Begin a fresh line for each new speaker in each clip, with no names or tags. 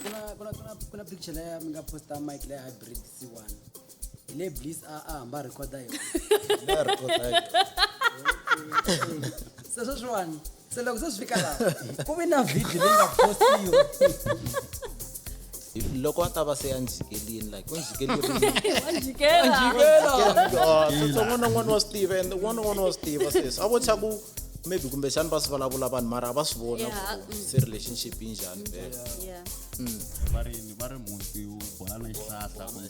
kuna kuna kuna kuna picture leyi mi nga posta mike leyi hybrid c1 hi le bliss a a hamba a recorda yona Leyi record leyi. se sweswiwani se loko se swi fika laha ku vi na video leyi nga postiwa if loko a ta va se a ndzi jikelini like u ndzi jikeleriwan'wana n'wana wa swi tiva and n'wana n'wana wa swi tiva sweswi a vo tsha ku maybe kumbexani va swi vulavula vanhu mara a va swi vona ku mm. se relationship yi njhani vele mm. va ri va ri muti wu bola na xihlahla kumbe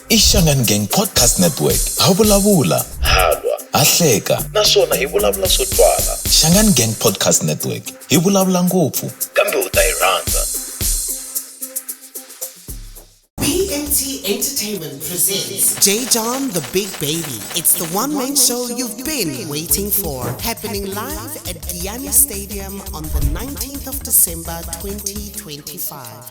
I Xangani Gang Podcast Network. Ha vulavula, ha lwa, ha hleka naswona hi vulavula swo twala. Xangani Gang Podcast Network. Hi vulavula ngopfu kambe u ta hi rhandza. BMT Entertainment presents J. John the Big Baby. It's the one man show you've been waiting for. Happening live at Guyana Stadium on the 19th of December 2025.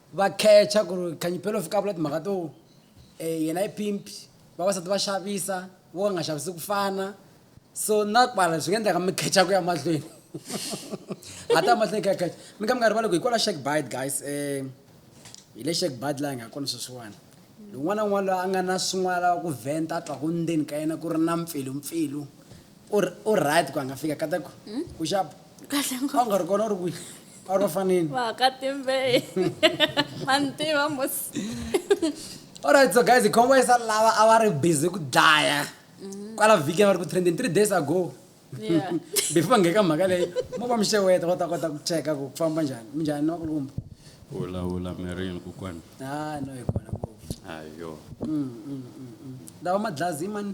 va khecha ku ri khanyipelo u fika a vula timhaka to um yena i pimp vavasati va xavisa vo ka nga xavisi ku fana so na kwala swi nga endleka mi khecha ku ya mahlweni a ta mahlweni kha khecha mi ka mi nga rivali ku hi kwala shek bid guys um hi le shek bid laha hi nga kona sweswiwani un'wana na un'wana loyi a nga na swin'wana lava ku vhenta a twaku ndzeni ka yena ku ri na mpfilumpfilu u right ku a nga fika kataku ku xapa kahle ngopfu a wu nga ri kona u ri kwihi a wu ri vafaneni vakatimbeyi mantiva mos alright so guys khombo isa lava a va ri busy ku dlaya mm-hmm. kwala vhiki va ri ku trending three days ago before va ngheka mhaka leyi mo va mixeweta va ta kota ku cheka ku famba njhani minjhani ni vakulukumba hulahula mirini kokwani ha no hi kona ngopfu ayo mm, mm, mm, lawa madlazi mani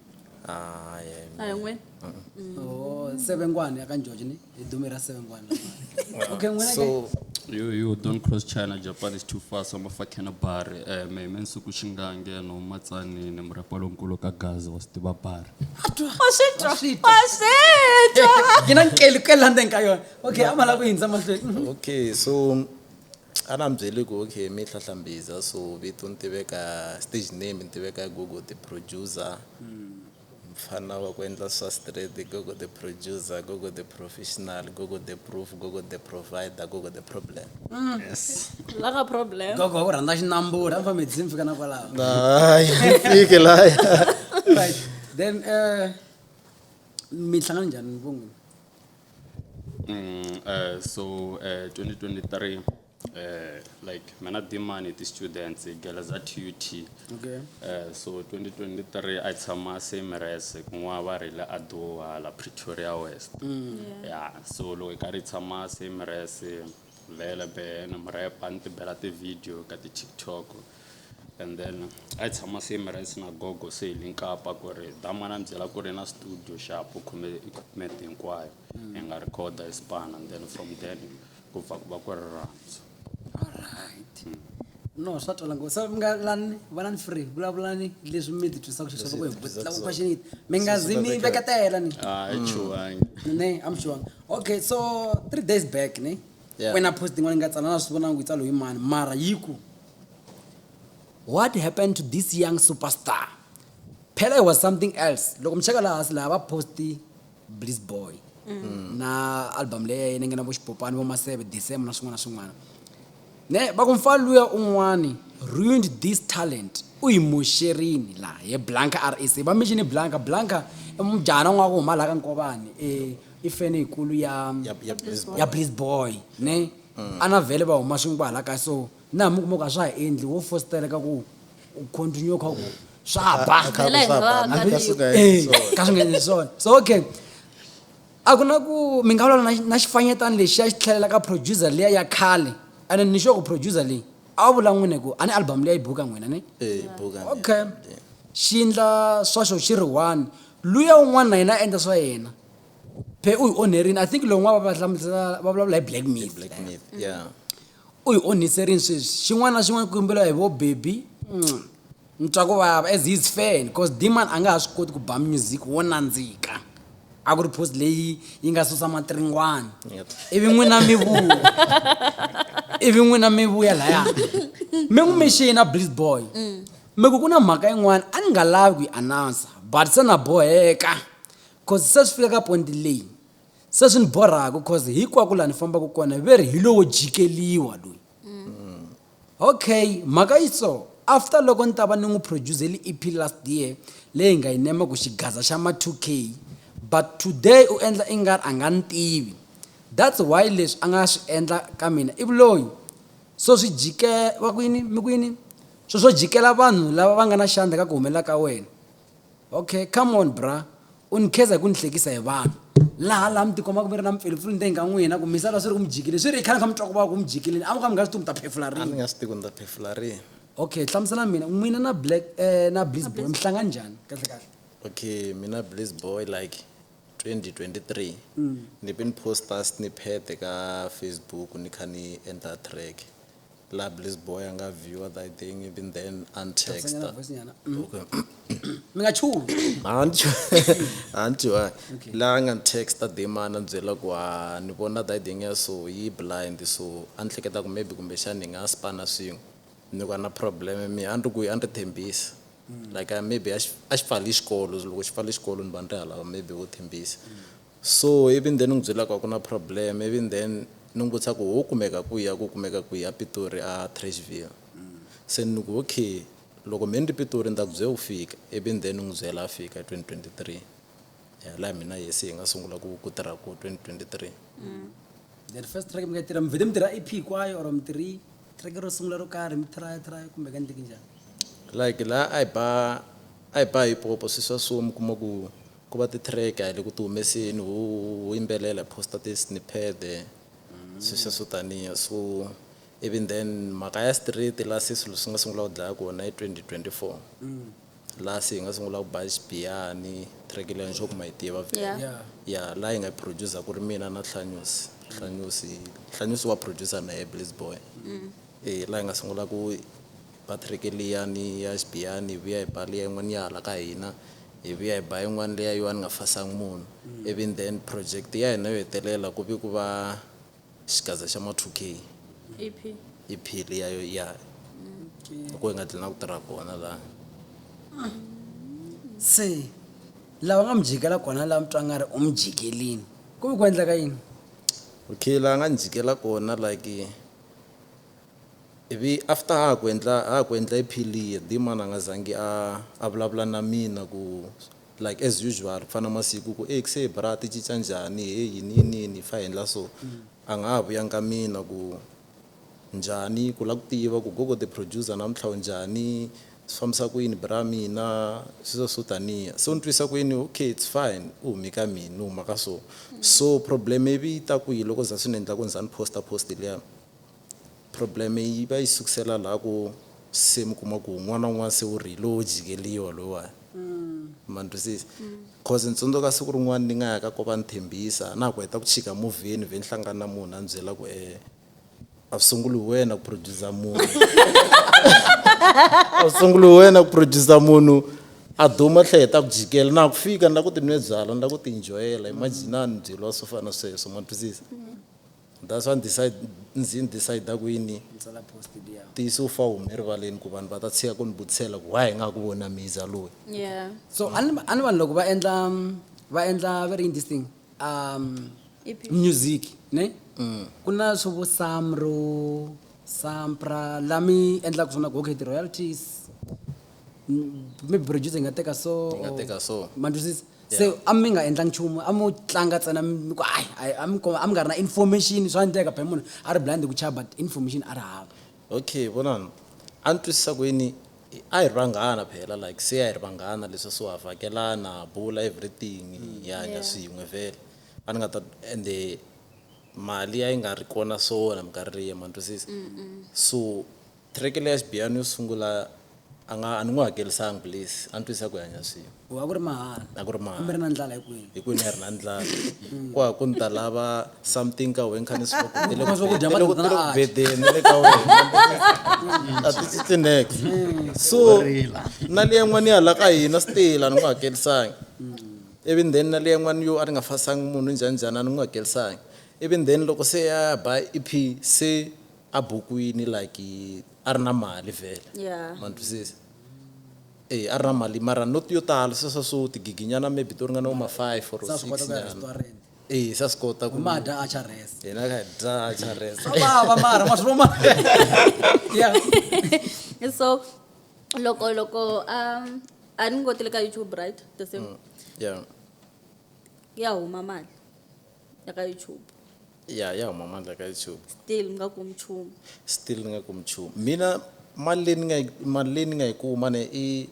Hayi, hayi, a hi n'wina Oh, sevengwana ya ka George ni hi dume ra sevengwana. Okay, n'wina ke. so You, you don't cross China, Japan is too far, so mafakhena bari. Eh, me me nsuku xingange no matsani ni murapa lonkulu ka gazi wa stiva bari. wa swi twa wa swi twa Gina nkeli ku landa nka yona. Okay, amala ku hindza mahlweni. Mhm. okay so A na mi byeli ku okay mi hlahla mbiza so vito ni tiveka stage name ni tiveka Gogo the producer mfana wa ku endla swa straight Gogo the producer Gogo the professional Gogo the proof Gogo the provider Gogo the problem yes la ka problem Gogo wa ku rhandza xinambula mi fambe mi fika na kwalaho hayi mi fike laya right then eh mi hlangana njhani vun'wini Mm, so uh, 2023 uh, like mana dimani ti students girls at ut okay. uh, so 2023 i tshama same res kun'wana va ri le adowa la pretoria west mm. yeah. yeah so loko hi karhi tshama same res vele be ni mu repa ni ti bela ti-video ka ti-tiktok and then a hi tshama same rice na gogo se hi le nkapa ku ri damana ni byela ku ri na studio xapu khume equipment hinkwayo hi nga recorda hi span and then from then ku pfa ku va ku ri rhandzu alright no swa twala ngo so mi nga lani valani free vulavulani leswi mi ti twisaka xiswona ku hi vutisa ku question yini mi nga zi mi veketela ni a hi chuhangi ne i'm sure okay so three days back ne Yeah. wena post yin'wana yi nga tsala na swi vonanga ku yi tsalo hi mani mara yi ku what happened to this young superstar phela it was something else loko mi cheka laha hansi laha va posti bliss boy na album leyi ya yena yi nga na vo xipopani vo maseve december na swin'wana na swin'wana ne va ku mfana luya un'wani ruined this talent u yi moxerini laha ye blanca rac va mixini blanca blanca i mujahana n'wana wa ku huma laha ka nkovani e ifeni yikulu ya ya ya please ya please boy ne a na vhele va huma swin'we kwahala kaya so na hambi u kuma ku a swa ha endli wo fositeleka ku u continue kha ku swa ba Kha ku Phela hi swa nga ba, ka swi nga Eh, endli swona. ka swi nga endli swona so okay a ku na ku mi nga vulavula na- na xifanyetana lexi ya xi tlhelela ka producer liya ya khale ene ni xo ku producer leyi a wu vula n'wini ku a ni album liya yi buka n'wina ni eh buka okay xi endla swaxo xi ri one luya un'wana na yena a endla swa yena phe u hi onherini i think lowun'wana va hlamusela va vulavula hi black myth black myth yeah u hi onhiserini sweswi xin'wana na xin'wana ku yimbela hi vo baby ni twa ku vava as his fan because demand a nga ha swi koti ku ba music wo nandzika a ku ri post leyi yi nga susa matiringwana Yep. ivi n'wina mi vuya ivi n'wina mi vuya laya mi n'wi mixina bliss boy Me ku ku na mhaka yin'wana a ni nga lavi ku yi announcer but se na boheka cause se swi fika ka ponti leyi se swi ni borhaka cause hinkwaku laha ni fambaka kona ve ri hi lowo jikeliwa loyi okay mhaka yi so after loko ni ta va ni n'wi producer-eli E_P last year leyi hi nga yi nema ku xigaza xa ma two K but today u endla i nga ri a nga ni tivi that's why leswi a nga swi endla ka mina ivi loyi so swi va ku yini mi ku yini. Sweswo jikela vanhu lava va nga na xandla ka ku humelela ka wena. Ok, come on bra, u ni kheza hi ku ni hlekisa hi vanhu. Laha laha mi tikomaka mi ri na mipfilupfilu ndzeni ka n'wina ku mi sala swi ri ku mi jikile swi ri i khale mi kha mi twa ku vava ku mi jikile a mi kha mi nga swi tivi mi ta phefula rini. A ni nga swi tivi ku ni ta phefula rini. Ok, hlamuselani mina, n'wina na Black eh na Blizz Boy mi hlangane njhani kahle kahle? Ok, mina Blizz Boy like 2023 ni ve ni post-a snippet ka Facebook ni kha ni endla track. La blessed boy a nga viewer that thing even then and text. Sanyana voice nyana. Mm. Okay. Mi nga chuhi. Anti anti wa Okay. la nga ni texta the man a ni byela ku ha ni vona that thing ya so yi blind so a ni hleketa ku maybe kumbexana hi nga spana swin'we ni va na problem mi a ni ri ku a ni ri thembisi mm. like uh, maybe a xi pfali xikolo loko xi pfali xikolo ni va ni ri halava maybe wo thembisa so even then ni n'wi byelaka ku na problem even then ni n'wi vutisa ku ho kumeka ku ya ku kumeka ku ya pitori a trashville mm. se ni ku okay loko me ni ri pitori ni ta ku byela ku fika even then ni n'wi byela a fika 2023 ya laha mina yesi hi nga sungula ku ku tirha ku 2023 mm. then first track mi nga tirha mi vhete mi tirha ep kwayo or mi tirhi track ro sungula ro karhi mi traya traya kumbe ka ndleki njhani like la a hi ba a hi ba hi popo swi swa so mi kuma ku ku va ti-track a hi le ku ti humeseni ho ho yimbelela hi posta ti-snippet swi swa swo taniya so even then mhaka ya street la se swilo swi nga sungula ku dlaya kona i twenty twenty four laha se hi nga sungula ku ba xibiyani track leyi nxoku ma yi tiva Yeah. Yeah. ya laha yi nga producer ku ri mina na hlanyusi hlanyusi hlanyusi wa producer na ye blaze boy e laha hi nga sungula ku ba track liyani ya xibiyani hi vuya hi ba liya yin'wana ya hala ka hina hi vuya hi ba yin'wana leya yo a ni nga fasangi munhu even then project ya hina yo hetelela ku vi ku va xigaza xa ma 2k EP. ep liyayo ya loko yi nga tlina ku tirha kona laha se lava nga mi jikela kona laha mi twa nga ri u mi jikelini ku ve ku endleka yini okay laha nga ni jikela kona like ivi after ha ha ku endla ha ha ku endla ep liya dman a nga zangi a a vulavula na mina ku Like as usual ku fana masiku ku ey kse bra ti cica njhani hey yini yini yini hi fa hi ndla so a nga ha vuyanga ka mina ku njhani ku la ku tiva ku gogo the producer namuntlha u njhani swi fambisa ku yini bra mina sweswo swo taniya se u ni twisa ku yini ok it's fine u humi ka mina ni huma ka so so problem ivi yi ta kwihi loko za swi ni endla ku ni za ni poster post liya Problem yi va yi sukusela laha ku se mi kuma ku n'wana un'wana se u ri hi lowo jikeliwa loyiwani ma ni twisisa cause ni tsundzuka siku rin'wana ni nga ya ka ko va ni tshembisa na ha ku heta ku chika movheni vhe ni hlangana na munhu a ni byela ku um a swi sunguli hi wena ku producer munhu a swi sunguli hi wena ku producer munhu a duma tlhe heta ku jikela na ha ku fika ni la ku ti nwe byalwa ni la ku ti enjoy-ela imagine a ni byeliwa swo fana na sweswo ma ni twisisa That's why ndzi ndzi ni decide ku yini ntiyiso wu fa wu hume rivaleni ku vanhu va ta tshika ku ni vutisela ku why hi nga ha ku vona miza loyi yeah so a ni a ni vanhu loko va endla va endla va ri yini this thing um EP. music ne ku na swo vo samro sampra la mi endlaka swona ku okay ti-royalties mm, maybe producer yi nga teka so Yi nga or- teka so. ma ni twisisa se a mi nga endlangi nchumu a mo tlanga tsena mi ku ai ai a mi ko- a mi nga ri na information swa endleka phela munhu a ri blind hi ku chava but information a ri hava okay vonani a ni twisisa ku yini I- a hi ri vanghana phela like se a hi ri vanghana leswi so ha vhakelana ha bula everything hi hanya Yeah. swin'we vhele a ni nga ta ende mali a yi nga ri kona so na minkarhi liya ma ni twisisa so Thireke leya xibiyano yo sungula a nga a ni n'wi hakelisanga please a ni twisisa ku hi hanya swin'we Ku a ku ri mahala a ku ri mahala. hambi ri na ndlala hikwini hi kwini a hi ri na ndlala ku ha ku ni ta lava something ka wena kha ni swi vona ku tele ku- Swakudya tele ku- mali tele ku a- bedeni ni le ka wena a ti tsitsi next so na le yan'wani ya hala ka hina stila ni n'wi hakelisangi even then na le yan'wani yo a ni nga fasangi munhu njhani njhani a ni n'wi hakelisangi even then loko se ya ba ep se a bukwini like a ri na mali vhele yeah. ma ni twisisa e a ri na mali mara not yo tala sweswa swo tigiginyana maybe to ringana vo ma five or six nyana e sa swi kota ku ma dya a charesa hina ka dya a charesa vava mara ma swi voma yeah so loko loko um a ni ngotile ka youtube right the same mm. yeah ya huma mali ya ka youtube ya ya huma mandla ka youtube still mi nga kumi nchumu still ni nga kumi nchumu mina mali leyi ni nga yi mali leyi ni nga yi kuma ne i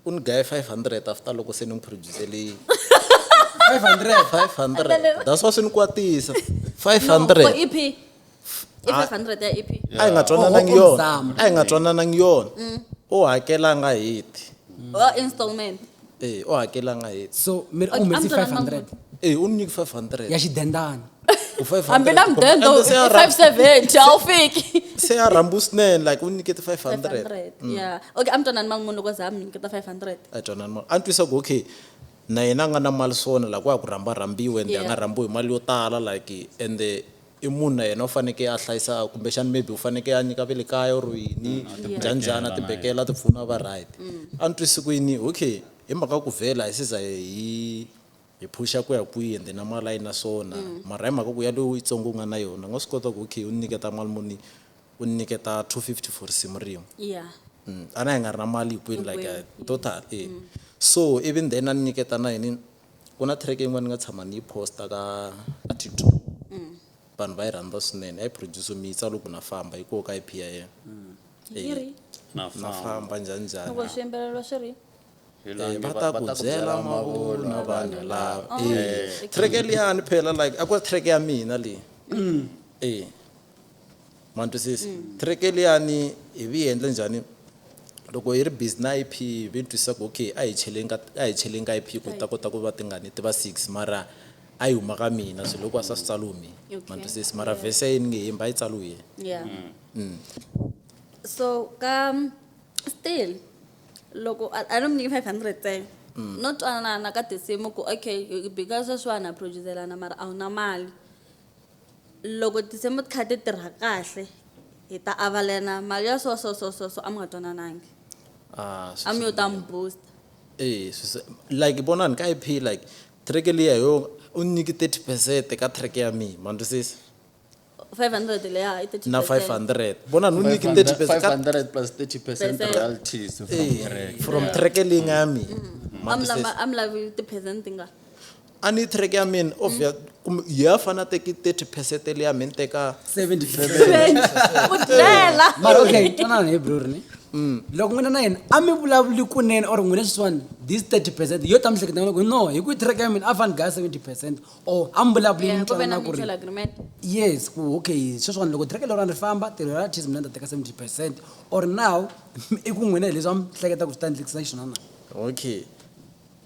u ni gaye 500 after loko se ni n'wi producelini 500 500 that's why swi ni kwatisa 500 no, for ep i 500 ya ep a yi nga twananangi Oh, oh, yona Zama. a yi nga twananangi yona u hakelanga heti or installment e u hakelanga heti so mi ri Okay, u humesi ambyela 500 mangoti. e u ni nyiki 500 ya xidendana ku 500 hambi na kumbe- mudendo ende se ya ra- 570 a wu fiki se ya rhambu swinene like u nyikete 500 500 yeah okay a mi twanani mali munhu loko za mi nyiketa 500 a twanani mali a ni twisa ku okay na yena a nga na mali swona like wa ha ku rhamba rhambiwe ende a Yeah. nga rhambiwi hi mali yo tala like ende i munhu na yena u fanekele a hlayisa kumbexana maybe u fanekele a nyika ve le kaya or yini njhani njhani a tibekela a tipfuna a va right a ni twisi ku yini okay hi mhaka ku vhela hi siza hi hi phusha ku ya kwihi ende na mali a yi na swona mara hi mhaka ku yaloyo u yitsongo u nga na yona u nga swi kota ku okay u ni nyiketa mali muni u ni nyiketa two fifty for risimu rin'we ya Mm, a na hi nga ri na mali hinkwenu like Hinkwenu, uh, total e so even then a ni nyiketa na yini Ku na track yin'wana ni nga tshama ni yi posta ka ka TikTok vanhu va yi rhandza swinene a yi produce mitsa loko na famba yi koho ka ip ya yena yi ri na na famba famba njhani njhani loko swi yimbeleriwa swi ri Hi la Eh, nge va ta ku byela mavunwa vanhu lava Oh, Eh, okay. track liyani phela like a ku ri track ya mina leyi Eh, Ma twisisa? Kereke liyani hi vi endle njhani? Loko hi ri busy na IP hi ve ni twisisa ku okay a hi cheleni ka a hi cheleni ka IP ku ta kota ku va tingani ti va six mara a yi huma ka mina swilo hinkwaswo a swi tsaliwe mi ma twisisa mara vhese yini nge hembi a yi tsaliwe hi yena. Yeah. So ka still loko a a ni mi nyiki five hundred ntsena no twanana ka tinsimu ku okay hi bika sweswiwani ha produce-lana mara a wu na mali. loko ti se mi kha ti tirha kahle hi ta avalana mali ya so so so so so a mi nga twananangi ah, a mi yo ta mi booster eh like vonani ka ip like track liya yo u nyiki 30 percent ka track ya mina ma ndwisisa 500 leya i 30 na 500 vonani u nyiki 30 percent 500 plus 30 percent royalties from eh, track leyi nga ya mina mm. a mi lavi ti-percent tingani a ni track ya mina obvious kumbe ya fana teki 30 percent le ya mina teka 70 Seven. Ku dlela. mara okay twanana hi bror ni loko n'wina na yena a mi vulavuli kunene or n'wina sweswiwani this 30 percent yo ta mihleketa loko no hi ku track ya mina a fani gaya 70 percent or a mi vulavuli Yeah, mi ku ve na twanana ku ri mutual agreement. yes ku okay sweswiwani loko track leriwani ri famba tirho ra tis mina ni ta teka 70 percent or now i ku n'wina hi leswi a mi hleketa ku swi ta ndlekisa xiswona na okay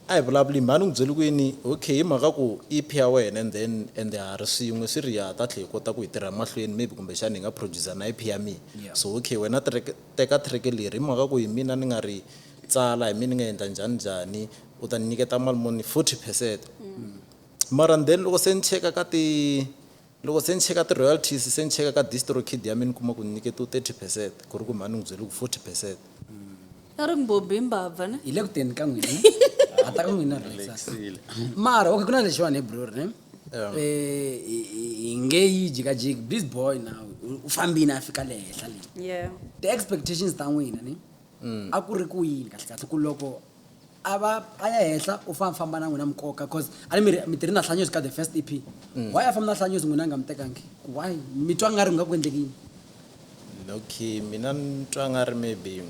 A hi vulavuli mhani u n'wi byele ku yini? Okay hi mhaka ku EP ya wena and then ende ha ri swin'we swi ri ya ta tlhe hi kota ku hi tirha mahlweni maybe kumbexana hi nga producer na EP ya mina so okay wena track teka track leri hi mhaka ku hi mina ni nga ri tsala hi mina ni nga endla njhani njhani u ta ni nyiketa mali muni forty percent mara then loko se ni cheka ka ti Loko se ni cheka ti-royalties, se ni cheka ka DistroKid ya mina ni kuma ku ni nyiketiwe thirty percent, ku ri ku mhani ni n'wi byele ku forty percent. A ri mbhobhi hi mbabva ne. Hi le ku teni ka n'wina. Ha ta ka n'wina rheyisani. Mara, okay ku na lexiwani he bror ne. Hi nge yi jikajiki, this boy now u fambini a fika le henhla le. Ti-expectations ta n'wina ne a ku ri ku yini kahle kahle ku loko. a va a ya henhla u famba famba na n'wina mukoka cause a ni mi ri mi tirhi na hlanyozi ka the first ep why a famba na hlanyozi n'wina a nga mi tekangi why mi twa nga ri nga ku endleki yini okay mina ni twa nga ri maybe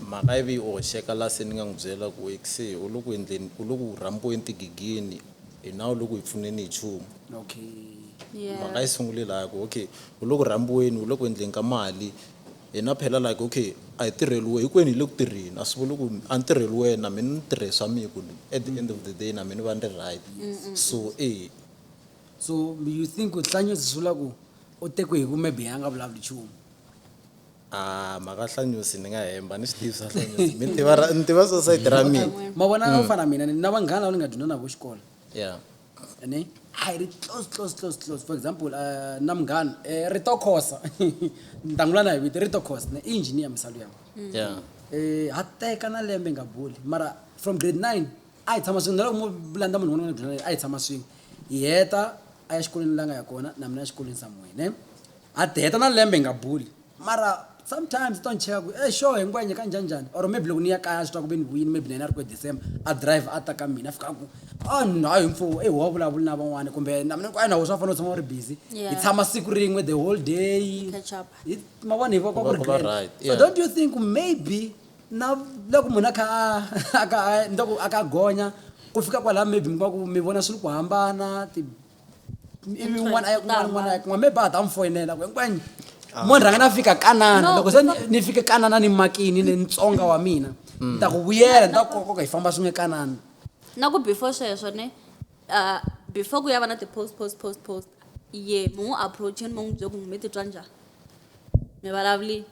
mhaka ivi u hoxeka la se ni nga n'wi byela ku ekse u le ku endleni u le ku rhambiweni tigigini hina u le ku hi pfuneni hi nchumu okay mhaka yi sungule laha ku okay u le ku rhambiweni u le ku endleni ka mali Hina phela like okay a hi tirheliwe hikwenu hi le ku tirheni a swi vuli ku a ni tirheli wena na mina ni tirhe swa mina ku at the end of the day na mina va ni ri right so e so you think ku hlanyo swi vula ku u tekwe hi ku maybe a nga vulavuli nchumu a mhaka hlanyosi ni nga hemba ni swi tivi swa hlanyosi mi tiva ra ni tiva society ra mina ma vona a wu fana mina ni na vanghana lava ni nga dyondza na vo xikolo yeah ne a hi ri close close close close for example uh, na munghana eh, ri to khosa ni ta n'wi vula na hi vito ri to khosa ne i engineer misalo yakwe yeah eh ha teka na lembe nga boli mara from grade 9 a hi tshama swin'we na loko mo landa munhu un'wana grade 9 a hi tshama swin'we hi heta a ya xikolweni la nga ya kona na mina exikolweni samuwe ne a ti heta na lembe hi nga boli Mara sometimes to ni cheka ku e sure hi ngo ya nyika njhanjhani or maybe loko ni ya kaya a swi twa ku ve ni vuyini maybe na yena a ri ku e december a drive a ta ka mina a fika a ku a ni hayi mfo e wa vulavuli na van'wana kumbe na mina ku a na wo swa fanele u tshama u ri busy Yeah. hi tshama siku rin'we the whole day Catch up. Hi- ma vona hi va va ku ri Va- va glen. right, so yeah. don't you think maybe na loko munhu a kha a- a ka a- ni ta ku a ka a gonya ku fika kwalaha maybe mi va ku mi vona swilo ku hambana ti- ivi n'wana ya kun'wana n'wana ya kun'wana maybe a ta n'wi foyinela ku hinkwani mo ni rhanga na fika kanana No, loko se ni- because- ni fike kanana ni makini ni ntsonga wa mina ni ta ku vuyela ni ta ku koka hi famba swin'we kanana na ku before sweswo ne uh, before ku ya va na ti-post post post post ye mu n'wi approacheni mu n'wi byele ku mi titwa njhani mi vulavuli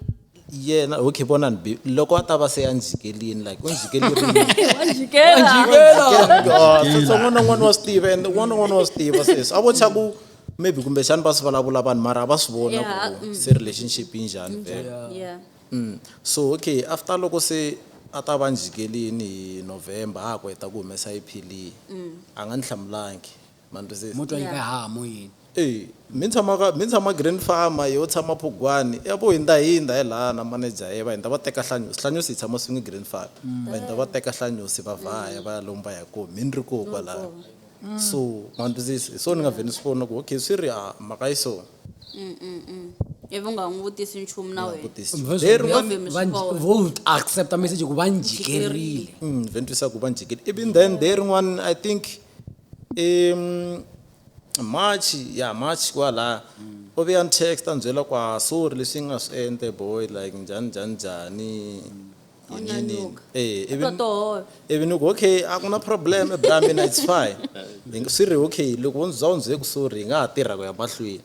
yena okay vonani be loko a ta va se a ndzi jikerini like u ndzi jikelinitsongo na n'wana wa swi tiva and un'wana na un'wana wa swi tiva sweswi a vo tsha ku maybe kumbexani va swi vulavula vanhu mara a va swi vona ku mm. se relationship yi njhani vela mm. so okay after loko se a ta va ndzi jikerini hi november a ha ku heta ku humesa iphili mm. a nga ni hlamulangi ma ni twisisa mo twa yi nga ha mo yini e mi tshama ka mi tshama green farmer yo tshama phugwani ya vo hindza hindza hi laha na manager ye va hindza va teka hlanyusi hlanyusi yi tshama swin'we green farm va hindza va teka hlanyusi va vhaya va ya lomba ya koho mi ni ri koho kwalaya so ma ni twisisa hi swona ni nga vhe ni swi fona ku okay swi ri a mhaka yi so ivi u nga n'wi vutisi nchumu na wena vutisi Because Leri va- vhe mi va- swi vona. vo accepta message ku va njikerile vhe ni twisa ku va njikile ivi then day rin'wana i think I March ya March kwalaya u ve a ni text a ni byela ku a sorry leswi yi nga swi endle boy like njhani njhani njhani yini yini yini e ivi ni- totoholo ivi ni ku okay a ku na problem bra mina it's fine Hi nga- swi ri okay loko wo ndzi za u ndzi byele ku sorry hi nga ha tirha ku ya mahlweni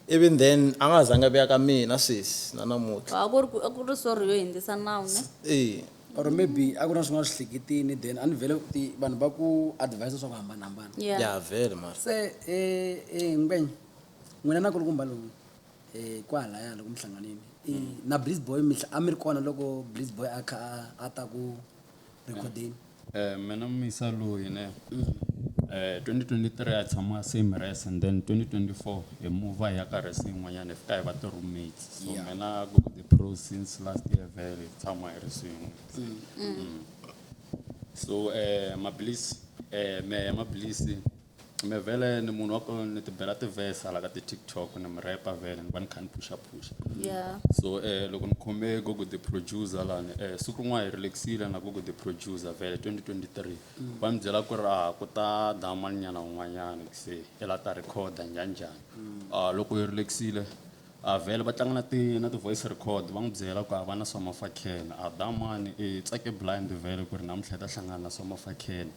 Even then a nga ha zangi a vuya ka mina sweswi na namuntlha. A ku ri ku a ku ri sorry yo hindzisa nawu ne? Eya. Or maybe a ku ri na swin'wana swihleketini then a ni vhele ti vanhu va ku advise swa ku hambanahambana. Yeah. Ya vhele mara. Se e e Ngwenya n'wina na kulukumba lomu e kwahalaya loko mi hlanganile i na Blizz boy mi a mi ri kona loko Blizz boy a kha a a ta ku. recording Eh, mina misa loyi ne eh, 2023 a tshama same res and then 2024 hi muva hi ya ka res yin'wanyana hi fika hi va ti-roommates so Yeah. mina go to the pro since last year vele hi tshama hi ri swin'we Mm. so eh, maphilisi eh, mehe maphilisi Me vele ni munhu wa ku ni ti bela ti-verse hala ka ti-tiktok ni mi repa vele ni va ni kha ni phusha phusha yeah so eh loko ni khome gogo the producer lani eh siku rin'wana hi relaxile na gogo the producer vele 2023 va ni byela ku ri ah ku ta damani nyana un'wanyana se i la ta recorder njhani njhani ah loko hi relaxile a vele va tlanga na ti na ti-voice record va n'wi byela ku a va na swamafakheni a damani i tsake blind vele ku ri namuntlha i ta hlangana na swamafakheni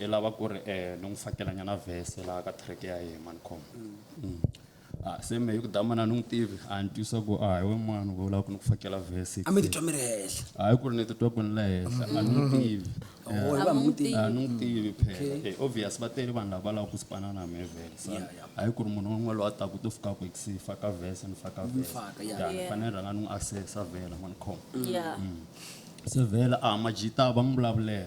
Ni lava ku ri eh, ni n'wi fakelanyana vhese laha ka track ya yehe mani khoma Mm. Ah, se me hi ku damana ni n'wi tivi a ni twisa ku a hi we mani u lava ku ni ku fakela vhese a mi titwa mi ri henhla hayi ku ri ni titwa ku ni le henhla a ni n'wi tivi Oh, hi va mi n'wi tivi. a ni n'wi tivi phela Eh, obvious va tele vanhu lava lava ku sipana na me vele sa Yeah, yeah. hayi ku ri munhu un'we loyi a taka u to fika ku ex faka vhese ni faka vhese faka, yeah. Ya, ni Yeah. fanele ni rhanga ni n'wi assessa vhela mani khoma Yeah. se vhela a majita va n'wi vulavulela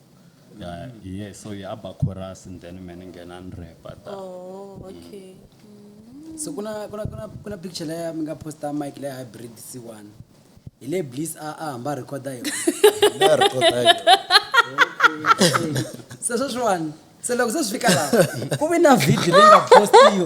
Yeah, yeah, so ya ba chorus and then mina ngena ni rap ta. Oh, okay. so kuna kuna kuna kuna picture leya mi nga posta mike leya hybrid c1 hi le bliss a a hamba a rhekhoda yona Leyi record-a hi yona. se sweswiwani se loko se swi fika laha ku vi na video leyi nga postiwa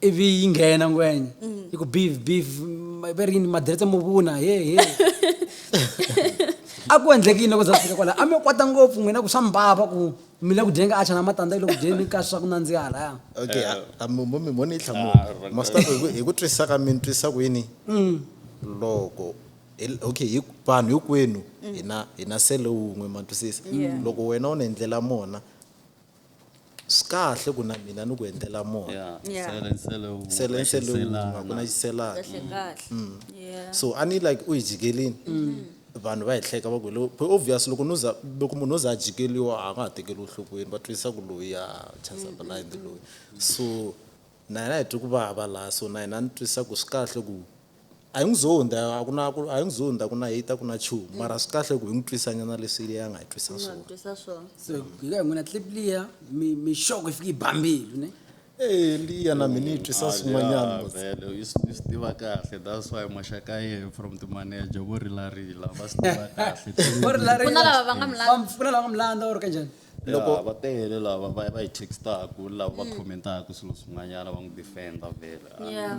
ivi yi nghena ngwenya mm. yi ku beef beef va ri yini madiretse mo vuna he he a ku endleki yini loko za fika kwala a mi kwata ngopfu n'wina ku swa mbava ku mi le ku dyeni ka acha na matandza yi le ku dyeni ka swa ku nandziha laya okay mo mi voni yi hlamula ah, masita hi ku twisisa ka mi ni twisisa ku yini mm. loko okay vanhu hinkwenu mm. hina hina sele wun'we ma twisisa loko wena u ni endlela mona swikahle ku na mina ni ku endlela mona yeah Yeah. sele sele u nga sele sele wun'we xiselana. ku na xiselana kahle kahle yeah so a ni like u hi jikelini vanhu va hi hleka va ku lo but obvious loko no za loko munhu o za a jikeliwa a nga ha tekeriwi enhlokweni va twisisa ku loyi a chasa blind loyi so na yena hi twi ku vava laha so na yena ni twisisa ku swi kahle ku A hi n'wi zondi, a ku na ku, a hi n'wi zondi, a ku na hate, a ku na nchumu. Mara swi kahle ku hi n'wi twisanyana leswi Eliya a nga hi twisa Nga swona. twisa swona. so hi ka hi n'wina clip liya mi mi xoko yi fike yi ba mbilu ne Eh, Eliya na mina yi twisa swin'wanyana. mos. vele u swi u swi tiva kahle that's why maxaka ye from timaneja vo rilarila va swi tiva kahle Vo rilarila. Ku na lava va nga mu landza. Ku na lava nga mu landza or kanjhani loko va tele lava va va yi textaku lava va commentaka swilo swin'wanyana va n'wi defender vhele Yeah.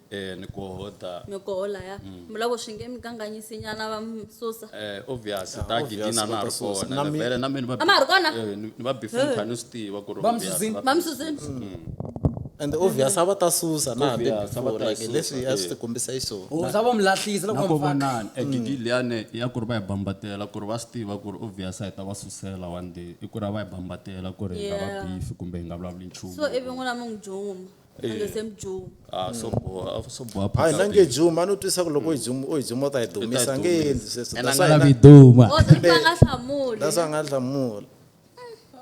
Eh, ni ku hoda ni ku hola ya mm. mula ku swi nge mi kanganyisi nyana va mi susa eh obvious ta ah, gidina na ri kona na vele na mina ba ma ri kona eh, ni va before eh. khani swi tiva ku ri ba mi susini ba mi susini mm. and obvious a va ta susa na hambi before like leswi a swi ti kombisa iso o oh, za va mi lahlisa loko va vonana e mm. gidi liyane ya ku ri va yi bambatela ku ri va swi tiva ku ri obvious a yi ta va susela one day i ku ri a va yi bambatela ku ri hi nga va beef kumbe hi nga vulavuli nchumu so ivi n'wina mi n'wi juma Eh. ende semjuu Ah, so boha so boha hayi phakathi. nange juma no twisa ku loko u juma u ta yi dumisa nge endli sweswo Ena That's why nga na- lavi duma o se va nga hlamuli that's why a nga hlamula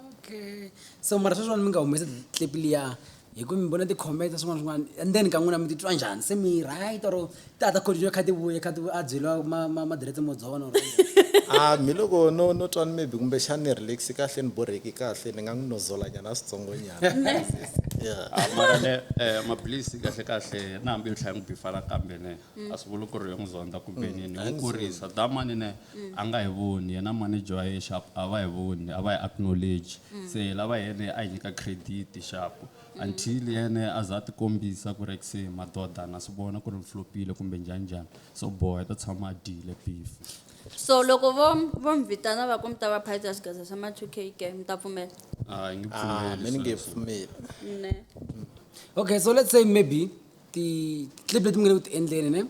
okay so mara sweswiwani mi nga humesi clip liya hi ku mi vona ti-comment swin'wana swin'wana and then ka n'wina mi titwa njhani se mi right or tata khodi yo khadi vuye khadi a byeliwa ma ma ma direct mo dzona or a mi loko no no twa ni maybe kumbe xana ni relax kahle ni borheki kahle ni nga n'wi nozola nyana switsongo nyana yeah Ah, mara ne eh, maphilisi kahle kahle na hambi yo tlhaya n'wi bifala kambe ne a swi vuli ku ri yo n'wi zonda kumbe nini ni n'wi kurisa da mani ne a nga hi voni yena manager wa yena xapu a va hi voni a va hi acknowledge se lava yena a hi nyika credit xapu until yene a za a tikombisa ku ri ex hi madoda na swi vona ku ri flopile kumbe njhani njhani so boha i ta tshama a dyile beef so loko vo vo mi vitana va ku mi ta va phayisa swigaza swa ma 2 k ke mi ta pfumela a hi nge Ah, pfumeli mina nge sweswo. pfumeli. ne okay so let's say maybe ti-clip leti mi nge le ku ti endleni ne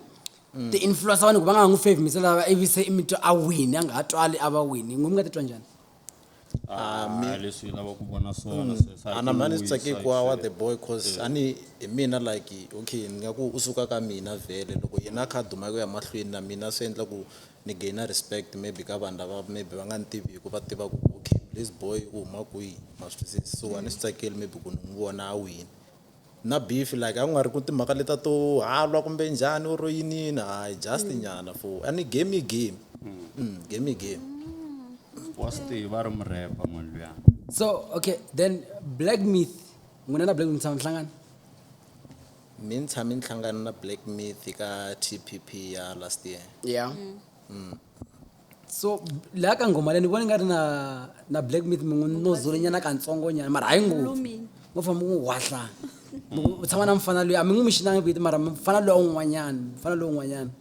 ti-influencer vanhu ku va nga ha n'wi favimisela va ivi se i mi twa a wini a nga ha twali a va wini n'we mi nga titwa njhani Ah, mi- Ah, leswi hi lavaka ku vona swona sweswi. ana mhani swi tsake kwa wa the boy cause a ni hi mina like okay ni nga ku u suka ka mina vhele loko yena a kha a duma ku ya mahlweni na mina swi endla ku ni gainer respect maybe ka vanhu lava maybe va nga ni tivi hi ku va tiva ku okay this boy u huma kwihi ma swi twisisa so a ni swi tsakeli maybe ku ni n'wi vona a wini na beef like akungari ku timhaka leta to halwa kumbe njhani or yinini hayi just mm. nyana for and game i game mm. Mm, game i game wa swi tiva ri murepa munhu luya so okay then black myth n'wina na black myth tshama nhlangana mi ni tshame ni hlangana na black myth ka tpp ya last year yeah mm. Mm. so leya ka nghoma leyi ni vona nga ri na na black meat mi n'wi nozolinyana katsongonyana mara hayi ngopfu ngo famba mi n'wi wahla u tshama na mfana loyi a mi n'wi mi xinanga vito mara mfana loyi a un'wanyana mfana loyi un'wanyana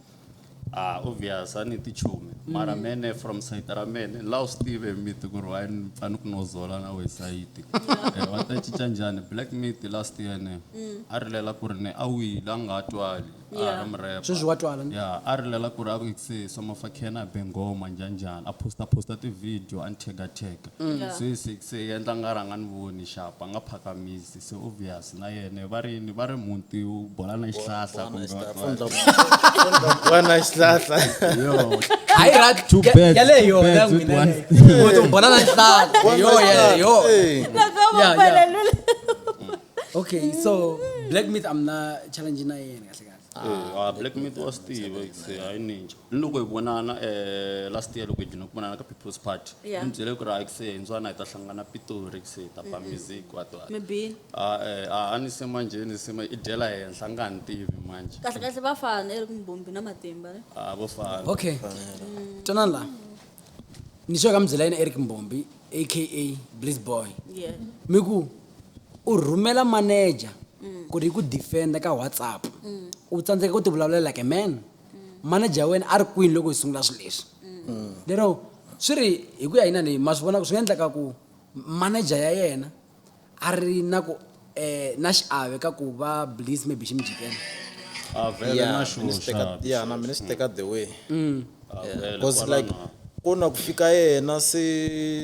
a ah, obvious a ni tichumi mara mm. mene from site ra mene la u swi tive miti ku ri wayi ni fane ku nozola na we sayiti eh, va ta cinca njhani black meat last year ne mm. a rilela ku ri ne a wile a nga twali a Yeah. ri murepa sweswi wa twala ni ya a rilela ku ri a ku se somafakhena a be ngoma njhanjhani a posta posta tivhidiyo a ni tega tega Yeah. se se se yendla nga rhanga ni voni xapa a nga phakamisi se obvious na yena va ri yini va ri muti u bola na xihlahla kumbe va- va- wana xihlahla yo hayi ra Two ya- birds, yaleyo two yona birds with n'wina one. yaleyo. Uthi u bola na xihlahla yo yaleyo Hey. Loko Yeah, yeah. mupalelula. okay so black myth am na challenge na yena kahle kahle Eh, ah, black myth wa swi tiva hi ku se hayi ninja ni loko hi vonana um last year loko hi dlina ku vonana ka people's party Yeah. ni byele ku ri hayi ku se hi ndzwana hi ta hlangana pitori ku se hi ta ba music wato mi bini Ah, eh, ah, a ni se manje ni se ma- i dyela henhla a nga ni tivi manje kahle kahle va fana i ri kumbombi na matimba ne a vo fana okay twanani la ni sure ka mi byela yena eric mbombi aka bliss boy yeah. mi ku u rhumela manager mm. ku ri yi ku defenda ka whatsapp mm. u tsandzeka ku ti vulavulela like man mm. manager ya wena a ri kwini loko hi sungula swilo leswi mm. lero swi ri hi ku ya yinani ma swi vonaka swi nga endleka ku manager ya yena a ri na ku eh, na xiave ka ku va bliss maybe xi mi jikela a vele Yeah, na mina swi teka- xoxa yeah, na mina swi teka the way vele because kwala like na- ku na ku fika yena se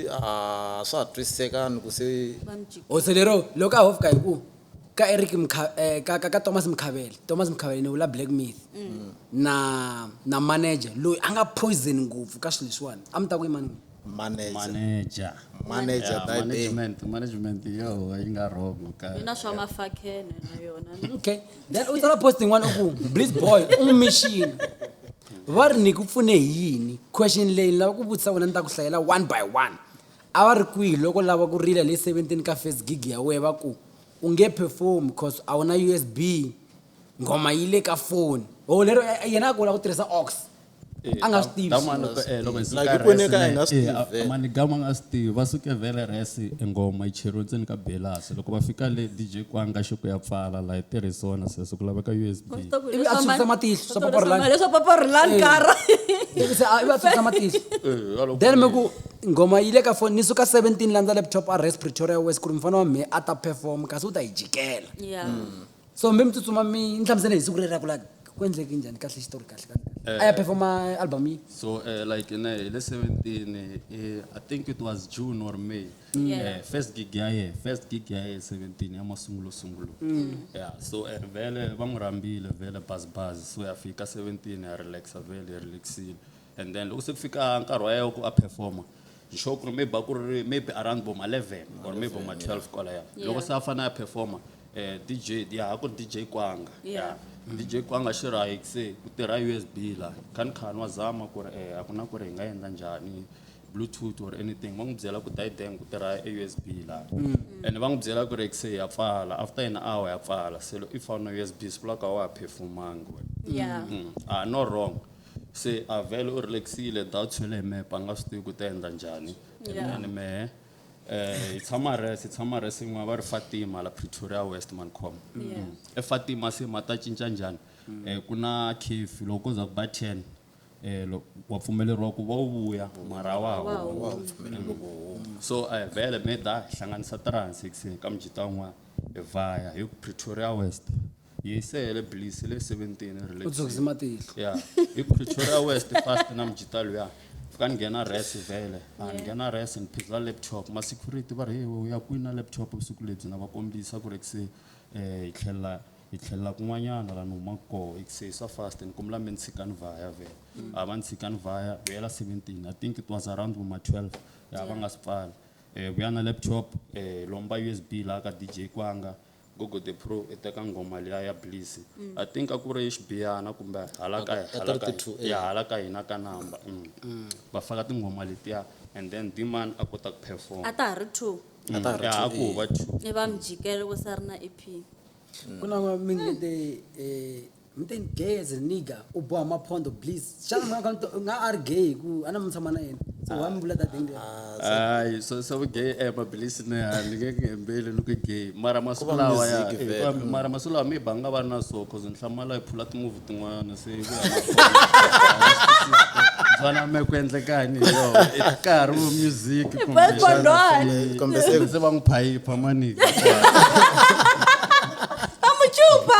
a swa ha twisisekani ku se hosi lero loko a hofika hi ku ka eric Mkha- eh, ka, ka, ka thomas mkhavele thomas mkhavele ni vula black myth na na manager loyi a nga poison ngopfu ka swilo leswiwani a mi ta ku yimani n'wina manager manager manager Yeah, type A. management management yo yi nga wrong ka mina swa mafakhene na yona okay then u tsala post yin'wana u ku bliss boy u n'wi mixini va ri ni ku pfune hi yini question leyi ni lava ku vutisa wena ni ta ku hlayela one by one a va ri kwihi loko lava ku rila le seventeen ka first gig ya wehe va ku u nge perform cause a wu na usb nghoma yi le ka foni o lero eh, yena a ku u lava ku tirhisa ox Eh, a nga swi tivi Damu a ni swi- eh, loko hi suka Like, hi poneka resi, a hi nga swi eh, tivi a- vhele. mani damu a nga swi tivi va suke vhele resi e ngoma yi cheriwe ndzeni ka belasi loko va fika le dj kwanga xi ku ya pfala laha yi tirhisi wona sweswo ku laveka usb Ivi a tshwisa matihlo, swa Papa Rhulani. leswa papa rhulani kara Ivi se a- ivi a tshwisa matihlo Eh, a loko- then mi ku nghoma yi le ka foni ni suka 17 landza laptop a res pretoria west ku ri mufana wa mhe a ta perform kasi u ta yi jikela ya so mi mi tsutsuma mi ni hlamusele hi siku rero ra ku la ku endleke njhani kahle xitori kahle kahle a ya performa album yi So uh, like in uh, le 17 uh, I think it was June or May. Yeah. Uh, first gig ya ye, first gig ya ye 17 ya masungulo sungulo. Yeah. So uh, vele va n'wi rhambile vele buzz buzz. So ya fika 17 ya relaxa vele ya relaxile. and then loko se ku fika nkarhi wa yena ku a performa ni sure ku ri maybe a ku ri maybe around bo ma-eleven or maybe bo ma-twelve kwalaya loko se a fanele a performa um d j ya a ku ri d j kwanga ya d j kwanga xi ri hayi se ku tirha u s b la kha ni kha ni wa zama ku ri um a ku na ku ri hi nga endla njhani bluetooth or anything va n'wi byela ku die dang ku tirha e u s b laha and va n'wi byela ku ri se ya pfala after an hour ya pfala se loko i fana na u s b swi vulaka a wa ha performangi wena ya a no wrong se a vele u relaxile doubt swi le hi mehe pa nga swi tivi ku ta endla njhani mina ni mehe eh hi tshama res hi tshama res yin'wana va ri fatima la pretoria west mancom efatima se ma ta cinca njhani um ku na cafe loko ko za ku ba ten um loko wa pfumeleriwa ku va u vuya mara a wa ha humi so um vele me da hi hlanganisa three hundred six ka mijita un'wana hi vhaya hi pretoria west Hi sehele Bliss le 17 hi rile. U dzokise matihlo. Yeah. Hi Pretoria West fast na mjita luya. Fika ni nghena res vele. A ni nghena res ni phizwa laptop. Ma security va ri he we u ya kwini na laptop vusiku lebyi na va kombisa ku ri se eh hi tlhela hi tlhela kun'wanyana la ni humaka kona. Se swa fast ni kombela mi ni tshika ni vaya vhele. A va ni tshika ni vaya hi hela 17 I think it was around vo ma 12 ya va nga si pfala. Eh vuya na laptop eh lomba USB la ka DJ Kwanga Gogo the pro i teka nghoma liya ya bliss i think a ku ri xibiyana kumbe hala ka Aku- hala ka- 32, eh. ya hala ka hina ka number mm. va faka tinghoma letiya and then dman a kota ku perform a ta ha ri two A ta ha ri Ya, two, a ku eh. va two i va mjikelo ku se ri na ep ku na minete Mthen gay's a nigga u boha maphondo please xana mhaka nto- u nga a ri gay hi ku a na mi tshama na yena so why mi vula that thing there? hayi swa swa vugay e mabilisi ne a ni nge ku hembeli ni ku gay mara masiku va lawa ya music eh, vele. kambe mara masiku lawa mi banga va ri na so cause ni hlamala hi phula timovhi tin'wana se hi ku ya byana me ku endlekani hi yona i nkarhi wo music But for Lord, Kumbe se- se va n'wi phayipha manike amuchupa.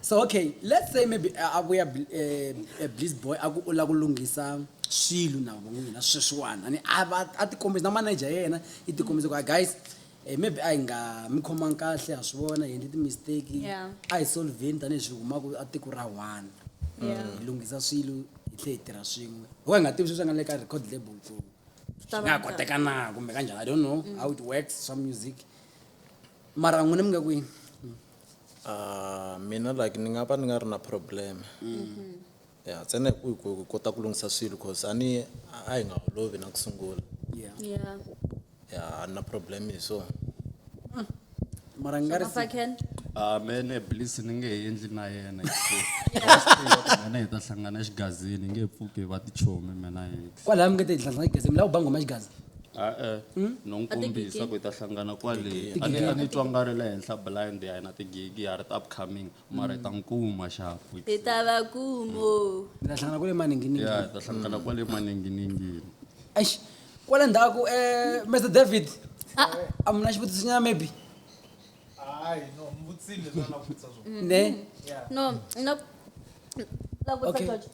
so okay let's say maybe uh, a vuya eh, eh, bliss boy a ku u lava ku lunghisa swilo na van'wina sweswiwana ni a va a tikombisa na manager ya yena yi tikombisa ku "Ah, guys eh, maybe a hi nga mi khomangi kahle ha swi vona hi endle ti-mistake Yeah. a hi solvheni tanihi swi humaka a tiko ra one Yeah. hi lunghisa swilo hi tlhe hi tirha swin'we ho hi nga tivi sweswi a nga le ka record label ku Ta va nga njhani? koteka na kumbe kanjhani i don't know how it works swa music mara n'wina mi nga kwini Ah, mina like ni nga va ni nga ri na problem ya ntsena hi ku hi ku- hi kota ku lunghisa swilo cause a ni a hi nga holovi na ku sungula yeah Yeah. ya a ni na problem hi swona mara ni nga ri Papa Ken. Ah, mene please ni nge he endli na yena mena hi ta hlangana xigazini nge pfuki va tichomi mena hi kwalaya mi nge te hi hlangana tigezi mi lava ku ba ngoma xigaza a-e no n'wi kombisa ku hi ta hlangana kwale a ni a ni twa nga ri le henhla blind ya hina tigigi ya ri ti upcoming mara hi ta n'wi kuma xafu hi ta va kumo mi ta hlangana kule maninginini ya hi ta hlangana kwale maninginingini eish kwale ndzhaku um mr david a mi na xivutisinyana maybe hayi no mvutsile leswi a la vutisa swona ne no no la vutisa Okay. George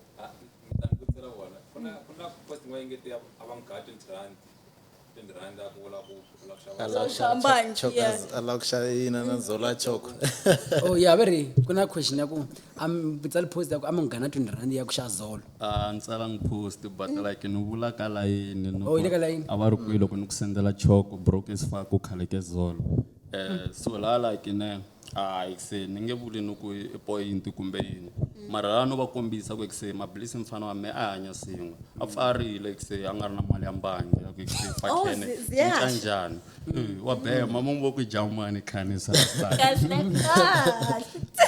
oh ya va ri ku na question ya ku ambutsa lipost ya ku amunghana twenty rand ya ku xa zolo a ni tsalangi post but like ni vula ka layini ni Oh, yi le ka layini. a va ri kwihi loko ni ku sendela choko broke is far ku khaleke zolo um so laha like ne hayi kuse ni nge vuli ni ku i point kumbe yini mara laha no va kombisa ku kuse mablisi mfana wa me a hanya swin'we a pfarile kuse a nga ri na mali ya mbangi ya ku kuse Oh, fakhene zi- ziyasha. cinca njhani Eh, wa bema mo vo ku jamani khani sa sa kahle kahle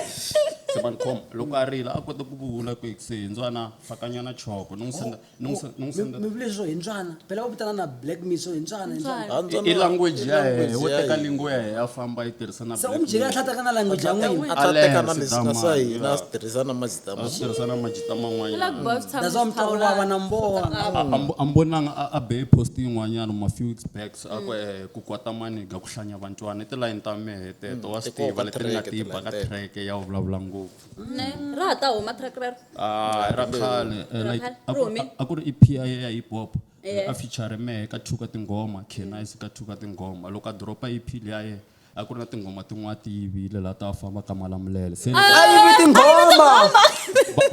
se man khoma loko a rila a kota ku vula ku kuse ndzwana fakanyana choko ni n'wi senda Nung sa- nung sa- mi vule swo hi ntswana phela va vitana na black me swo hi ntswana hi ntswana Ntswana. Handzana- i language ya language hehe wo ya teka hina. lingo ya hehe a famba yi tirhisa na se u mi byele a tlhataka na language ya n'wina a tlha Allen, teka na leswi Sidama, swa hina ya. a swi tirhisa na mazita ma tirhisa na majita Black man'wanyana boy swi tshama that's why swi mi twa ku vava na hlawulana. mboha A- a mbo- a mbonanga a- a beye post yin'wanyana ma few weeks back so a ku eh, ku kwata maniga ku hlanya vantswana i tilayini ta mehe teto wa swi tiva leti ni nga ti ba ka track ya wu vulavula ngopfu ne ra ha ta huma track rero Ah, ra khale eh, Ra like khale. a Ri ku- humile. a ku ri EP ya ya hip hop Eh. a feature mehe ka two ka tinghoma Kenise ka two ka tinghoma loko a dropa EP liya ye a ku ri na tinghoma tin'wana ti yivile laha ta famba ka malamulele se a yivi tinghoma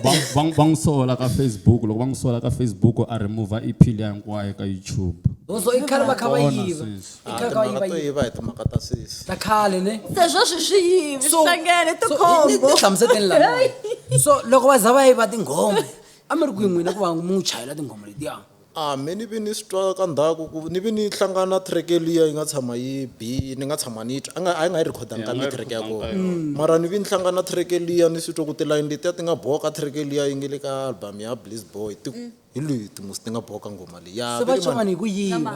va va n'wi sola ka Facebook loko va n'wi sola ka Facebook a remove EP liya hinkwayo ka YouTube so i khale va kha va Kona yiva sweswi. I Ah, kha ka yi timhaka va to yi- yiva hi timhaka ta sesi ta khale ne se sweswi swi yivi swi hlangene so- ni- ni tikhombo hlamuseteni laniwani so loko va za va yiva tinghoma a mi ri kwihi n'wina ku va mi n'wi chayela tinghoma letiya a me ni vi ni swi twa ka ndhaku ku ni vi ni hlangana na treke liya yi nga tshama yi bi ni nga tshama ni yi twa a nga a yi nga yi rhikhodanga ka Ya, a nga yi mitreke ya rhikhodanga ka kona yona. mara ni vi ni hlangana na treke liya ni swi twa ku tilayini letiya ti nga boha ka treke liya yi nge le ka album ya bliss boy ti hi leti musi ti nga boha ka nghoma leyi ya se va Veri mani- covani hi ku yiva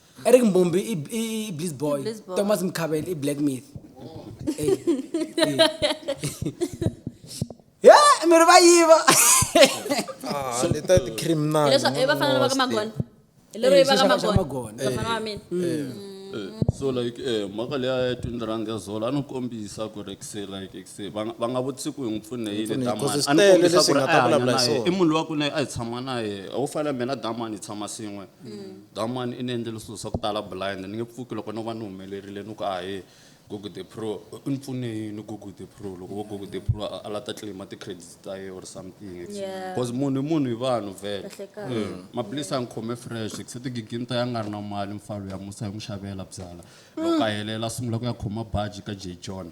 Eric Mbumbi i i i Blizz Boy. I Blizz Boy. Thomas Mkhabel i Black Myth. Eh, eh. Ya, mi ri va yiva. Ah, ni ta ti criminal. hileswa i vafana lava ka magona hi lero Eh, i va ka xixaka xa magona magona. vafana va mina Eh, so like eh mhaka leya ya twindiranga zolo a ni kombisa ku ri kse like kse va nga- va nga vutisi ku hi n'wi pfune hi le Pfune, damani because a ni swi tele kombisa leswi ku hi ri nga a ta hanya vulavula hi naye swona. i munhu wa ku ne a hi tshama naye a wu fanele mina damani hi tshama swin'we That man i ni endlele swilo swa ku tala blind ni nge pfuki loko no va ni humelerile ni ku a he Google the pro u ni pfune yini Google the pro loko vo Google the pro a la ta claim ti credits ta ye or something Yeah. because munhu i munhu hi vanhu vele Kahlekahle. Eh, maphilisi a ni khome fresh se tigiginta ya nga ri na mali mfalo ya musa hi n'wi xavela byala loko a helela a sungula ku ya khoma baji ka j john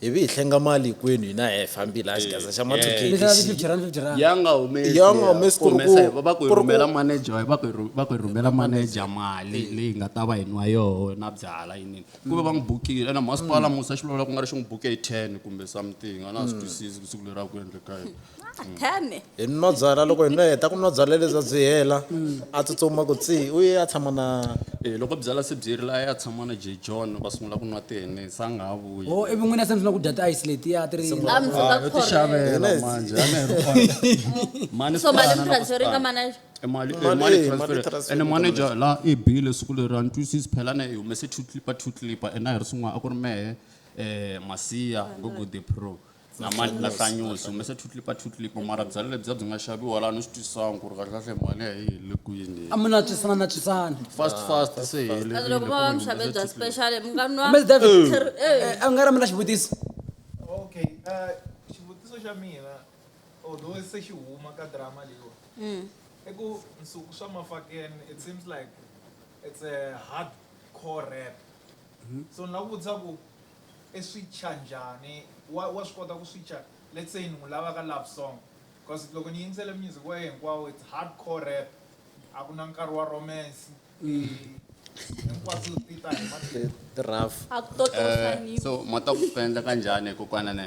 hi vi hi hlenga mali hinkwenu hina hi fambile a xigaza xa ma two Ni xava fifty rand fifty rand ya nga humesi Ya nga humesi ku ri ku- humesa hi- va va ku hi ku ri ku- rhumela manager hi va ku hi rhu- va ku hi rhumela manager mali leyi nga ta va hi nwa yoho na byala yinini ku va va n'wi bukile ena masipala musa xi vulavula ku nga ri xi n'wi buke hi ten kumbe something a na swi twisisi ku siku leri a ku endleka yini Tani. hi nwa byala loko hi nwa heta ku nwa byala lebyi a byi hela a tsutsuma ku tsi u ye a tshama na Eh, loko byala se byi rile a ya tshama na j john va sungula ku nwa tihene se a nga ha vuyi o ivi n'wina se mi sungula ku dya ti-ice letiya ti ri A mi suka Ah, yo ti khorhela. xavela Yes. manje a ni ri kona. Mani So mali sipala mi na transfer ringa kusipala. manager. E mali e Mali, mali eh, transfer. mali transfer ene ka manager la i bile siku leri a ni twisisi phela na yi humese two clipper two clipper ene a hi ri swin'wana a ku ri mehe um masiya go good the pro na mali na hlanyusi humese two clip a two clip mara byalwa lebyiya byi nga xaviwa laha ni swi twisisanga ku ri kahlekahle mali ya yi le kwini a mi natswisana natswisana fast fast se hi kazi helerile loko ku va va mi mi xave humese bya two clip. special mi nga nwa Mr. David. Ter- eh, Eh, a nga ri mina xivutiso okay uh, xivutiso xa mina although se xi huma ka drama leyiwa mm. i ku nsuku swa mafakeni it seems like it's a hard core rap So ni la ku vutisa ku i swicha njhani wa wa swi kota ku swicha let's say ni n'wi lava ka love song cause loko ni yingisele music wa yena hinkwawo it's hardcore rap a ku na nkarhi wa romance hinkwaswo ti ta hi matimba Ti rough. A ku to to Eh, hlanipa. so mota ku swi endleka njhani kokwana ne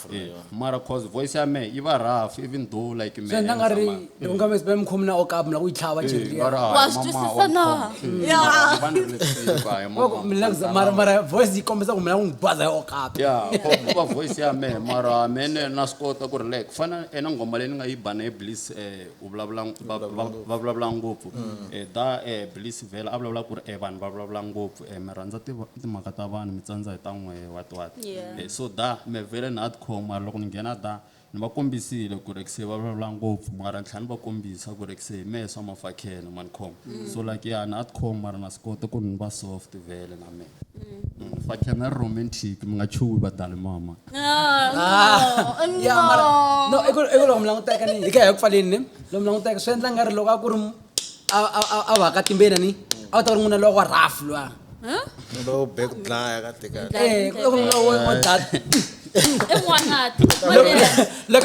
mara cause voice ya me yi va rough even though like me swi endla nga ri loko nga mesibe mi khomi na okapu na ku yi tlhava cheli ya Wa swi twisisa na? Loko mi lava ku- mara mara voice yi kombisa ku mi lava ku n'wi baza ya okapu ya va voice ya me mara mene na swi kota ku ri like ku fana ena nghoma leyi ni nga yi ba na ye bliss um u vulavula va- va- va vulavula ngopfu Eh, da um bliss vhela a vulavula ku ri um vanhu va vulavula ngopfu e mi rhandza timhaka ta vanhu mi tsandza hi ta n'we what what yeah. e, so da mi vhele na adcom mara loko ni nghena da ni va kombisile ku ri se va vulavula ngopfu mara ni tlhela ni va kombisa ku ri se hi mehe swa mafakhele ma ni khoma mm. so like ya ni adcom mara na swi kota ku ri ni va soft vhele na mehe mm. mm, fakhena ri romantic mi nga chuwi vadali mama no i ku loko mi languteka ni hi ka hi ku pfaleni lomu languteka swi endla nga ri loko a ku ri a va ka timbena ni a va ta ri n'wina lowa rafu lwa lowo be ku dlaya ka tika eh, loko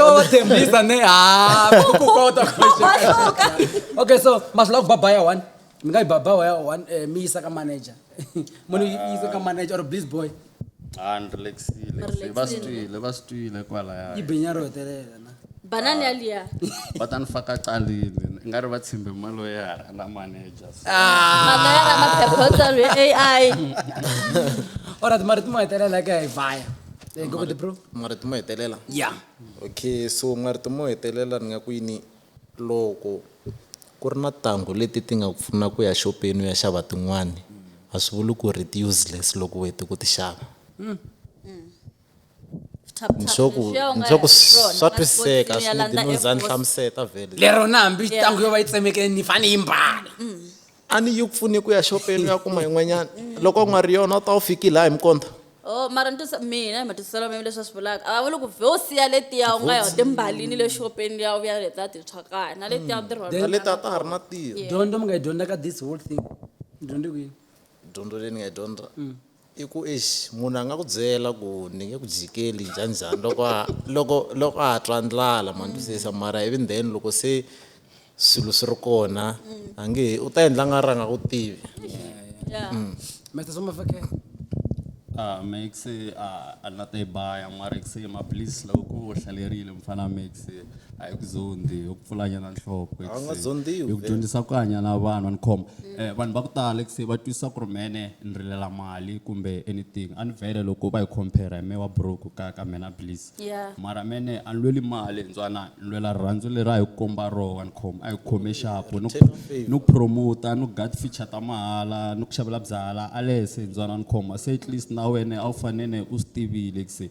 va va tshembisa ne hakukota okay so masula ku babaya one mi nga yi babaya one eh, mi yisa ka manager munhu yisa ka manager or please boy Ah, ni relaxile. Ni relaxile. Va swi twile, va swi twile kwalaya. yi benya ro hetelela na banani ya liya Va ta ni faka calile. I nga ri va tshembe maloyara na manager. so. maloyara maphephotsalo ya ai orat mara ti mo hetelela ka hi vaya Eh, go with the bro marito mo hetelela ya okay so marito mo hetelela ni nga ku yini Loko ku ri na tanghu leti ti nga ku pfuna ku ya xopeni u ya xava tin'wani a swi vuli ku ri ti useless loko u hete ku ti xava ni sure ku ni sure ku swa twisiseka a swi need no za ni hlamuseta vhele. Lero na hambi tanghu yo va yi tsemekile ni fane yi mbala. a ni yi pfuni ku ya xopeni u ya kuma yin'wanyana loko u nga ri yona u ta wu fiki laha hi mukonta Oh, mara ni twisa mina hi matwisiselo mimi leswi a swi vulaka a va vuli ku vhe u siya letiya u nga ya u timbalini le xopeni liya u ya leta tintshwa kaya na letiya u tirhona na leti a ta ha ri na tiyo dyondzo mi nga yi dyondza ka this whole thing ni dyondze kwini dyondzo leyi ni nga yi dyondza I ku exi munhu a nga ku byela ku ni nge ku jikeli njhanjhani loko a loko loko a twa ndlala ma twisisa mara ivi then loko se swilo swi ri kona a nge he u ta endla nga ri a nga ku tivi Mr. Somafake Ah, Max, ah, a ni la ta yi baya mara ku se maphilisi loko ku hlalerile mfana Max. a hi ku zondhi hi ku pfulanyana nhloko A wu nga zondziwi, hi ku vhele. dyondzisa ku hanya na vanhu ni khoma eh vanhu va ku tala ku se va twisisa ku ri mene ni rilela mali kumbe anything a ni vhele loko va hi compare hi me wa broke ka ka mina please Yeah. mara mene a ni lweli mali ntswana ni lwela rirhandzu leri a hi ku komba roho ni khoma a hi ku khome xapu ni ku- Return of favour. ni ku promota ni ku guard feature ta mahala ni ku xavela byala alese ntswana ni khoma se at least na wena a wu fanele u swi tivile ku se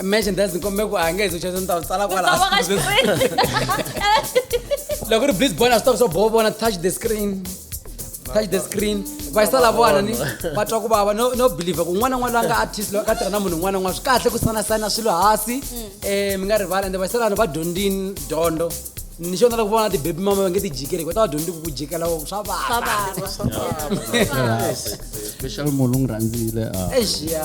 imagine that's nkombe ku angezi uchesa ni ta tsala kwala loko ri please bona stop so bo bona touch the screen touch the screen va yisa la vona ni va twa ku vava no no believe ku n'wana n'wana loyi a nga artist loyi a ka tirha na munhu un'wana n'wana swi kahle ku sana sana swilo hasi um mi nga rivala ende va yisa lani va dyondzini dyondzo ni xona loko vona tibebi mama va nge ti jikeli hikuva ta va dyondzi ku ku jikela ku swa vava special munhu u n'wi rhandzile a exiya